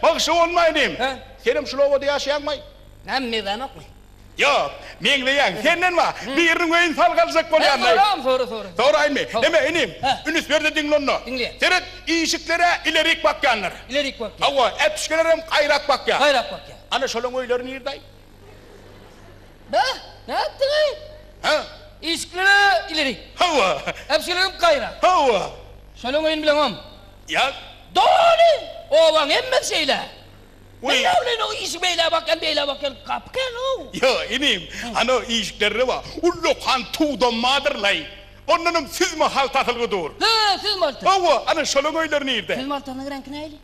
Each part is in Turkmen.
Bagşy bolmaýdym. Senem şul obada ýaşaýaňmy? Näme meýdanokmy? Ýok, meňzeýäň. Senden ba, biriniň öýüni salgy aljak bolýan daýy. Soraň, sora, sora. Soraýmy? Näme, inim, ünüs ber-de diňle onda. Diňleýän. Seret, işiklere ilerik bakýanlar. Ilerik bakýan. Hawa, äpişgelerem gaýrak bakýan. Gaýrak bakýan. Ana şolaň öýleri nirdaý? Be, nätdiň-ä? Hä? Işikleri ileri. Hawa. Äpjigim gaýra. Hawa. Şonuň öýüni bileňoň. Ýak. Doly obaň hemmesi şeýle. Meň näme bileýin, o işik beýle bakýan, beýle bakýan gapy kän-ow. Ýa, inim, ana işiklerde bar, ullakan tuwdam bardyr-laý. Ondanam süzme haltasylygy dur. Hä, süzme halta. Hawa, ana şolaň öýleri nirde? Süzme haltasynyň reňki nähili?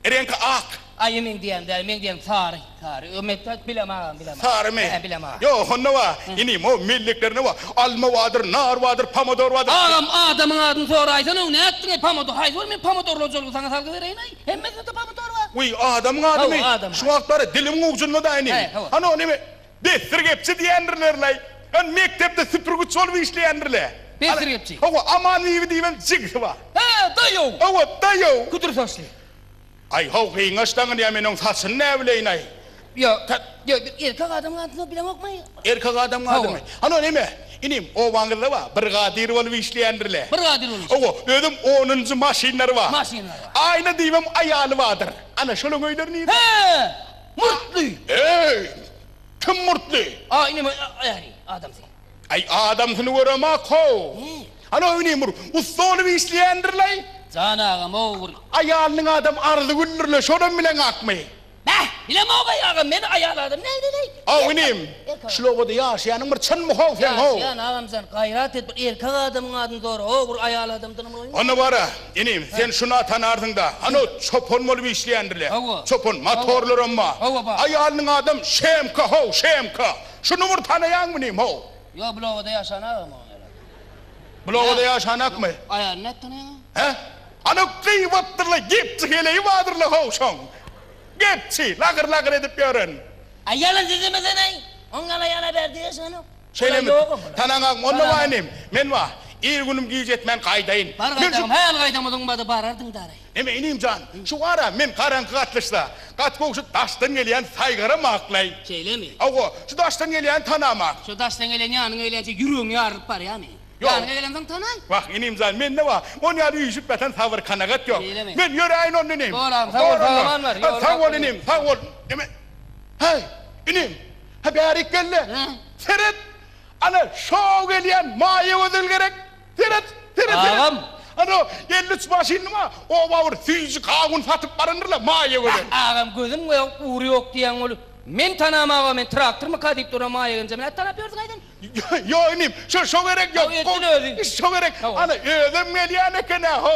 Reňki ak. Aýe meň diýýänim däl, meň diýýänim sary, sary. Ö mekde bilem agam, bilem. Sarymy? Hä, bilem agam. Ýok, onda wa, inim, o melleklerinde wa, alma wadyr, nar wadyr, pomodor wadyr. Agam, adamyň adyny soraýsana, nätdiň-eý, pomodor, haýsy bir men pomodor hojalygy saňa salgy bereýin-eý? Hemmesinde-de pomodor bar. Wiý, adamyň adymy? Hawa, adamyň ady. Şu wagtlary dilimiň ujunda-da, inim. Hä, hawa. Hany o neme, Besdir gepçi diýendirlerlaý. Ony mekdepde süpürgiç bolup işleýändirlä. Besdir gepçi. Hawa, Aman bibi diýip hem jigisi bar. Hä-ä, daýow. Hawa, daýow. Küdür saçly. Aý, haw, gyňaç daňyny ýa men oň saçyny näbileýinaý. Ýa, tä, ýa, bir erkek adamyň adyny hem bileňokmaý? Erkek adamyň adymy? Hawa. Hany, ol näme, inim, obaňyzda bar, brigadir bolup işleýändirlä. Brigadir bolup işleýär. Hawa, özem onunjy maşynlary bar. Maşynlary bar. Aýna diýip hem aýaly bardyr. Ana, şolaň öýleri nirede? Hä! Murtly! Eý! Kim murtly? Aý, näme äri, adamsy? Aý, adamsyny göremok-how. Hany, öýni bir ussa bolup işleýändir-leý? Jan agam-ow, bir. Aýalynyň adam Arzygüldir-le, şonam bileňakmy? Bäh, bilemok-aý, agam, men aýal adam näleýin-eý? Aw, inim! Şul obada ýaşaýanyň bir çyn muhaw sen how. Ýaşaýan agam sen gaýrat et bir erkek adamyň adyny sora ho bir aýal adam dynymy goýma. Onda bara inim sen şuna tanarsyň da ano çopan bolup işleýändirle çopan matorlaram ba aýalynyň adam şemka how şemka şuny bir tanaýaňmy inim how. Ýok bul obada ýaşan agam oň ýaly adam. Bul obada ýaşanakmy. Aýalyny nädip tanaýaň oň. He ano gybatdyrla gepçi heleýi badyrla how şoň gepçi lagyr lagyr edip ýören Aý ýalan sizimi seneý. Oň ýala ýala ber diýeşenok. Şeýlemi? Tanaňagyň onda waý inim. Men waý, ir günüm giç etmän gaýdaýyn. Bar gaýdagyň häli gaýdamadygyň bady barardyň daýy. Neme inim jan, şu gara men garaňky gatlyşsa, gat gowy şu daşdan gelýän saýgaram aklaý. Şeýlemi? Hawa, şu daşdan gelýäni tanama. Şu daşdan gelýän ýanyňa gelýänçä ýüregiň ýarylyp barýamy? Ýok. Ýanyňa gelemsoň tanaý. Wah, inim jan, mende wah, ony ýaly üýşüp ýatan sabyr-kanagat ýok. Meýlimi? Men ýöräýin onda, inim. Bolam, sag bol, Bor onda. sag-aman bar, ýoly Sag bol, inim, sag bol. Neme? Häý, inim, ha bärikella. Hä? Seret, ana, şo-ow gelýän Maýagözel gerek. Seret, seret, seret. Agam! Ana, elli üç maşynyny-ma oba bir süýji gawun satyp barandyr-la Maýagözel. Hah, agam, gözüm ýok, ury ýok diýýäň ol. Men tanamag-a, men traktormyka diýip duran Maýagenjemi nädip tanap ýörsiň, aýdyň? Ýo inim, şo şo gerek ýok. Gowy etdiň öziň. Şo gerek. Ana özem gelýän eken-ä ho.